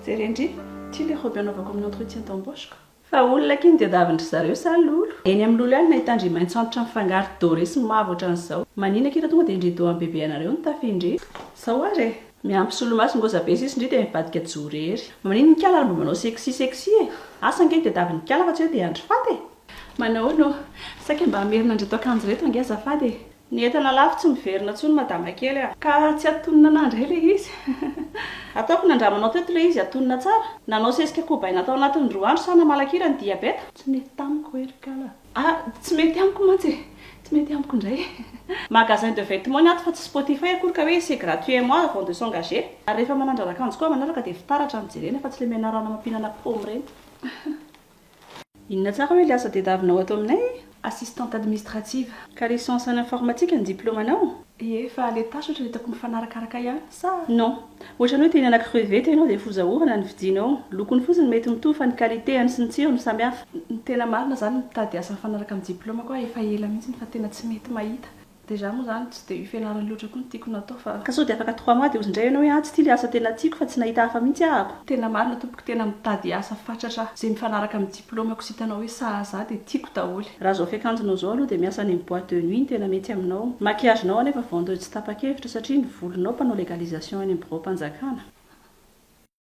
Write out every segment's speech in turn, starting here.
Jereo ndry, ity ilay robe anaovako amin'ny entretien d'embauche-ko. Fa olona akia ny diadavin-dry zareo sa lolo? Eny amin'ny lolo ihany no nahitan-dry maitso antitra mifangaro doré sy mavo ohatran'izao. Manina akia raha tonga dia ndry dohan bebe anareo ny tafy ndry. Zao ary e! Miampy solomaso ngoza be sisy ndry dia mivadika jorery. Maninona ikala ary mba manao sexy sexy e? Asa ange diadavin'ikala fa tsy hoe dia andry faty e! Manahoana ô? Saika mba hamerina an'ireto akanjo ireto ange azafady e! Ny entana lafo tsy miverina tsony madama kely a. Ka tsy atonina anah ndray le izy. Ataoko nandramanao teto le izy atonina tsara. Nanao sesika kobaina tao anatiny roa andro sa namalaka ira ny diabeta. Tsy mety tamiko e ry kala. Ah tsy mety amiko mantsy e. Tsy mety amiko ndray. Magasin de vetements ny ato fa tsy spotify akory ka hoe c'est gratuit un mois avant de s'engager. Ary rehefa manandrana akanjo koa manaraka dia fitaratra no jerena fa tsy le menarana mampinana paoma ireny. Inona tsara hoe ilay asa tediavinao ato aminay? Assistante administrative. Ka licence en informatique ny diplaomanao? Ie, fa ilay tâche ohatra dia tokony mifanarakaraka ihany sa? Non. Ohatran'ny hoe te hihinana crevette ianao dia foza orana ny vidinao. Lokony fotsiny mety mitovy fa ny qualité-ny sy ny tsirony samy hafa. Ny tena marina izany mitady asa mifanaraka amin'ny diplaomako aho efa ela mihitsy fa tena tsy mety mahita. Déjà moa zany tsy dia io fianarana io loatra koa no tiako natao fa. Ka sao dia afaka trois mois dia ozy indray ianao hoe ah tsy ity le asa tena tiako fa tsy nahita hafa mihitsy ah ako. Tena marina tompoko tena mitady asa fatratra aho ze mifanaraka amin'ny diplômako sy hitanao hoe sahaza ahy dia tiako daholo. Raha zao fiakanjonao zao aloha dia miasa any amin'ny boite de nuit no tena mety aminao. Maquillage nao anefa vendeuse tsy tapa-kevitra satria ny volonao mpanao legalisation any amin'ny biraom-panjakana.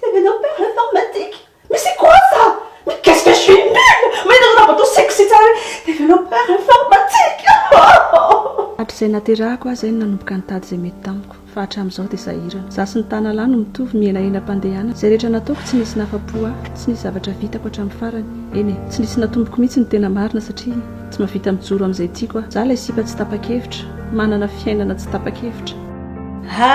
Tenenao père informatique mais c'est quoi ça? Mais qu'est-ce que je suis nulle! Mahita anareo matoa sexy tsara hoe tenenao père informatique oh! Hatrizay naterahako aho zay no nanomboka nitady izay mety tamiko, fa hatramizao dia sahirana. Za sy ny tanalahy no mitovy, mihenahena am-pandehana, izay rehetra nataoko tsy nisy nahafa-po ahy, tsy nisy zavatra vitako hatramin'ny farany, eny e, tsy nisy natomboko mihitsy ny tena marina satria tsy mahavita mijoro amin'izay tiako aho. Za ilay sipa tsy tapa-kevitra, manana fiainana tsy tapa-kevitra. Ha!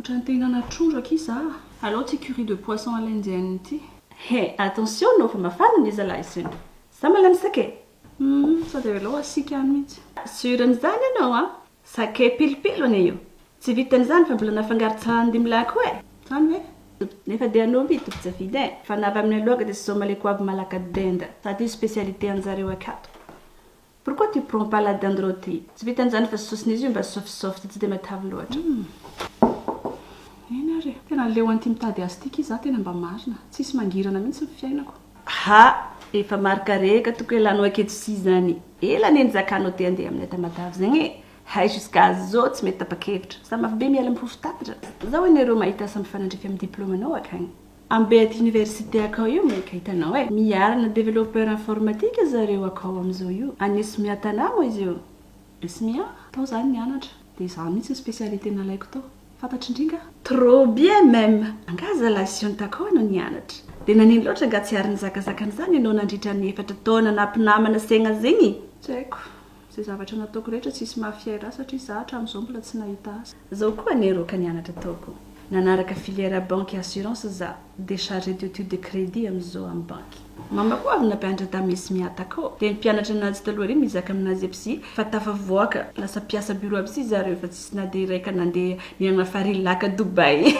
Otrany te hinana trondro akia za a! Aleo tsy curry de poisson alainjn ity. He, attention nao fa mafana ny zalahy zany. Za malemy sake. Humm, sao dia aleo asiaka ihany mihitsy. Sur an'izany ianao an! Sake pilipilo anie io. Tsy vitan'izany fa mbola nafangaro tsahndimlahy koa e! Zany ve? Nefa dia anao mby tompon-tsy avidy e! Fa na avy amin'ny aloaka dia sômale koa avy malaka denda. Sady io spécialité anjareo akato. Pourquoi tu prends pas la dinde rôtie? Tsy vitan zany fa sosona izy io mba soft soft tsy de matavy loatra. Hum eny ary e, tena leo an'ity mitady azy ity ki za tena mba marina, tsisy mangirana mihitsy ny fiainako. Ha! Efa marikarehaka toko elanao aketr'si zany. Ela anie nizakanao te andeha aminay ta matavy zegny e! Hay jusqu'à zao tsy mety tapa-kevitra. Za mafy be miala mipofo tapitra. Zao anie rô mahita asa mifanandrify amin'ny diplôme-nao akagny. Ambed université akao io maika hitanao e! Miarina developpeur informatique zareo akao amzao io. Any Esmia Tana moa izy io. Esmia? Tao za nianatra. Dia za mihitsy ny specialité nalaiko tao. Fantatry ndry nga? Trop bien même! Angaha zalahy Sion takao no nianatra? Dia nanino loatra nga tsy ary nizakazaka an'izany ianao nandritra ny efatra taona naha mpinamana Segna zegny? Tsy haiko. Zay zavatra nataoko rehetra tsisy mafia ra satria za hatramin'izao mbola tsy nahita asa. Zao koa anie rô ka nianatra ataoko, nanaraka filière banque et assurance za de chargé d'etude de crédit amzao am banky. Mama koa avy nampianatra tam Esmiata ko de ny mpianatra nazy taloha ary mizaka aminazy aby si fa tafavoaka lasa mpiasa bureau aby si zareo fa tsisy na de iray ka nande nianana farilaka Dubaï.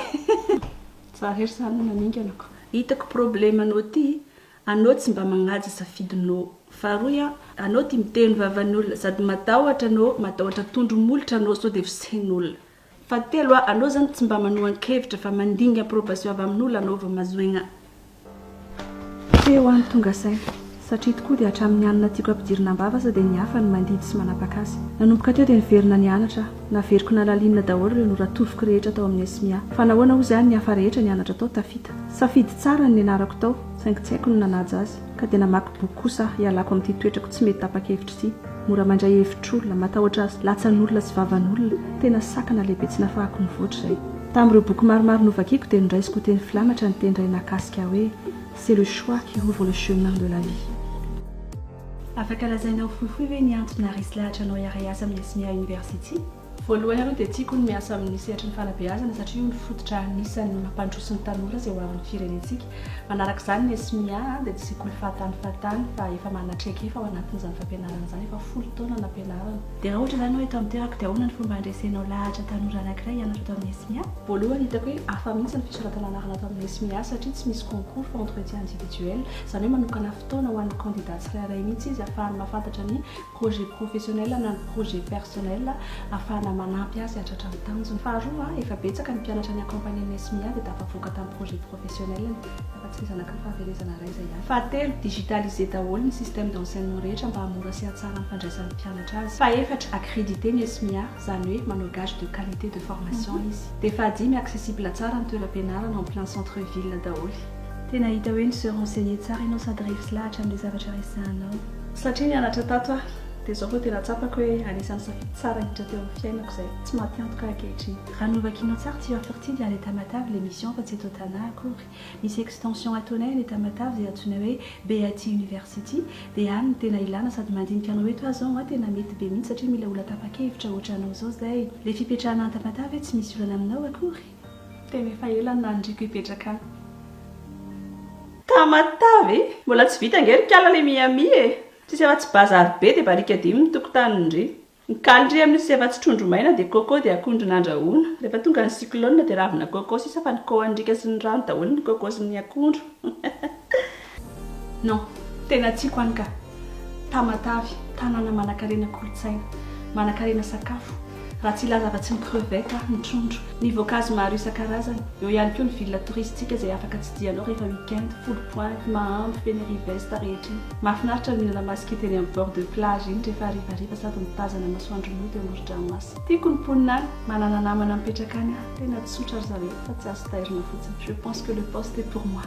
Za rery zany no naninganako. Hitako problème anao ty Anao tsy mba magnaja safidy no. Faharoa ya, anao tia miteny vavan'ny olona sady matahotra no matahotra tondro molotra anao sao dia ho sehin'olona. Fahatelo a, anao zany tsy mba manohan-kevitra fa mandinga approbation avy amin'olona anao vao mazoigna. Te ho any tonga saina. Satria tokoa dia hatramin'ny any na tiako ampidirina am-bava aza dia ny hafa no mandidy sy manapaka azy. Nanomboka teo dia niverina nianatra aho. Naveriko nalalinina daholo ireo noratoviko rehetra tao amin'ny SMIA. Fa nahoana hozy aho ny hafa rehetra nianatra tao tafita? Safidy tsara ny nianarako tao, saingy tsy haiko ny nanaja azy. Ka dia namaky boky kosa aho hialako amin'ity toetrako tsy mety tapa-kevitra ity. Mora mandray hevitr'olona, matahotra latsan'olona sy vavan'olona, tena sakana lehibe tsy nafahako nivoatra izay. Tamin'ireo boky maromaro novakiko dia noraisiko ho teny filamatra ny teny iray nahakasika ahy hoe, C'est le choix qui ouvre le chemin de la vie. Afaka lazaina ho fohifohy ve ny antony naharesy lahatra anao hiara hiasa amin'ny Esmea University? Voalohany aloha dia tiako ny miasa amin'ny sehatry ny fanabeazana satria io no fototra anisan'ny mampandroso ny tanora izay ho avin'ny firenentsika. Manaraka izany ny Esmea dia tsy sekoly fahatany fahatany fa efa manana traikefa ao anatin'izany fampianarana izany, efa folo taona nampianarana. Dia raha ohatra izany hoe eto amin'ny toerako dia ahoana no fomba handresenao lahatra tanora anankiray hianatra ato amin'ny Esmea? Voalohany hitako hoe hafa mihitsy ny fisoratana anarana ato amin'ny Esmea satria tsy misy concours fa entretien individuel, izany hoe manokana fotoana ho an'ny kandida tsirairay mihitsy izy hahafahany mahafantatra ny projet professionnel na ny projet personnel hahafahana manampy azy hahatratra ny tanjony. Faharoa, efa betsaka ny mpianatra ni-accompagner-n'ny SMIA dia tafavoaka tamin'ny projet professionnel-ny, afa-tsy ny zanaky ny fahaverezana iray izay ihany. Fahatelo, digitaliser daholo ny système d'enseignement rehetra mba hahamora sy hahatsara ny fandraisan'ny mpianatra azy. Fahefatra, accrediter ny SMIA, izany hoe manao gage de qualité de formation izy. Dia fahadimy, accessible tsara ny toeram-pianarana en plein centre ville daholo. Tena hita hoe ni se renseigner tsara ianao sady refs lahatra amin'ilay zavatra resahanao. Satria nianatra tato aho, dia izao vao tena tsapako hoe anisan'ny safidy tsara indrindra teo amin'ny fiainako izay. Tsy maty antoka aho ankehitriny. Raha ny novakianao tsara, tu as sorti de la lettre matavy ilay mission fa tsy eto Tana akory. Misy extension ataonay any etat matavy izay antsoinay hoe BAT University, dia any no tena ilana sady mandinika anao eto aza ho'a tena mety be mihitsy satria mila olona tapa-kevitra hoatra anao izao izay. Ilay fipetrahana any Tamatave tsy misy olana aminao akory. Tena efa ela no nandriko hipetraka any. Tamatave e! Mbola tsy vita ange ry kala le Miami e! Tsisy afa-tsy bazary be dia barikadimy ny tokotanindry. Ny kalindry amin'io tsisy afa-tsy trondro maina dia coco dia akondro nandrahoina. Rehefa tonga ny cyclone dia ravina coco sisa fa ny coandriaka sy ny rano daholo ny coco sy ny akondro. Non, tena tiako any ka. Tamatave, tanàna manankarena kolontsaina, manankarena sakafo, raha tsy hilaza afa-tsy ny crevettes aho, ny trondro, ny voankazo maro isan-karazany. Eo ihany koa ny ville touristique izay afaka tsidihanao rehefa week-end, Foulles Pointes, Mahambo, Fenerive-Est rehetra iny. Mahafinaritra ny mihinana masikita eny amin'ny bord de plage iny rehefa harivariva sady mitazana masoandro mody eo amoron-dranomasina. Tiako ny mponina any, manana namana mipetraka any aho, tena tsotra ry zareo fa tsy azo tairina fotsiny. Je pense que le poste est pour moi.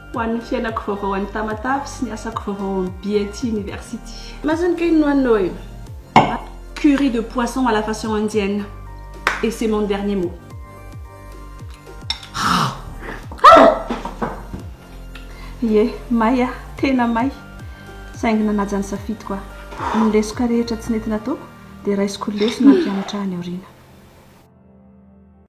Ho an'ny fiainako vaovao any Tamatave sy ny asako vaovao ao amin'ny BIT University. Majinika iny nohaninao iny. Curry de poisson à la façon indienne. Et c'est mon dernier mot. Ie, may aho, tena may. Saingy nanaja ny safidiko aho. Ny lesoka rehetra tsy nety nataoko dia raisiko ho lesona hampianatra ahy any aoriana.